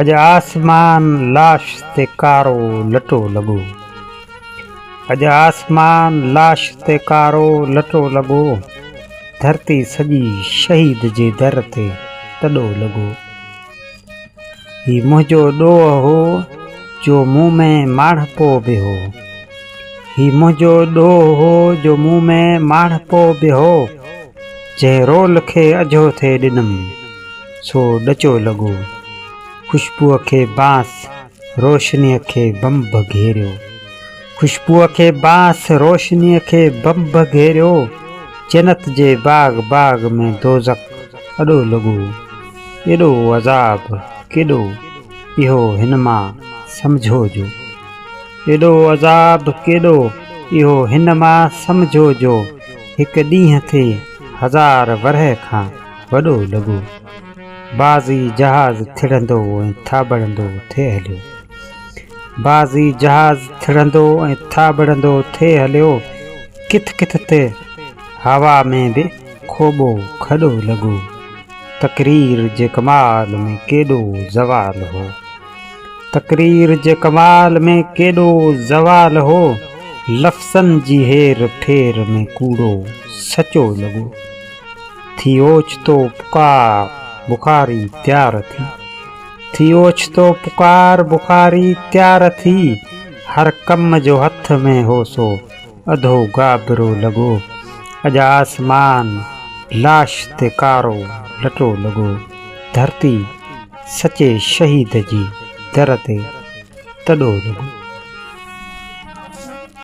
اڄ آسمان لاش تي ڪارو لٽو لڳو اڄ آسمان لاش تي ڪارو لٽو لڳو ڌرتي سڄي شهيد جي در تي ٽڏو لڳو هي منهنجو ڏوهه هو جو مون ۾ ماڻهپو به هو هي منهنجو ڏوهه هو جو مون ۾ ماڻهپو به هو جنهن رول کي اجهو ٿي ڏنم سو ڏچو لڳو، خوشبوء کي بانس، روشنيء کي بنب گهيريو. خوشبوء کي بانس، روشنيء کي بنب گهيريو. جنت جي باغ باغ ۾ دوزخ اڏو لڳو. ايڏو عذاب ڪيڏو، اهو هن مان سمجهو جو. ايڏو عذاب ڪيڏو، اهو هن مان سمجهو جو. هڪ ڏينهن ٿي هزار ورهه کان. وڏو لڳو. بعضي جهاز ٿڙندو ۽ ٿاٻڙندو ٿي هليو. بعضي جهاز ٿڙندو ۽ ٿاٻڙندو ٿي هليو. ڪٿ ڪٿ تي هوا ۾ به کوٻو کڏو لڳو. تقرير جي ڪمال ۾ ڪيڏو زوال هو. تقرير جي ڪمال ۾ ڪيڏو زوال هو. لفظن جي هير ڦير ۾ ڪوڙو سچو لڳو. ٿي اوچتو پڪار بخاري تيار ٿي ٿي اوچتو پڪار بخاري تيار ٿي هر ڪم جو هٿ ۾ هو سو اڌو گابرو لڳو اڄ آسمان لاش تي ڪارو لٽو لڳو ڌرتي سچي شهيد جي در تي تڏو لڳو.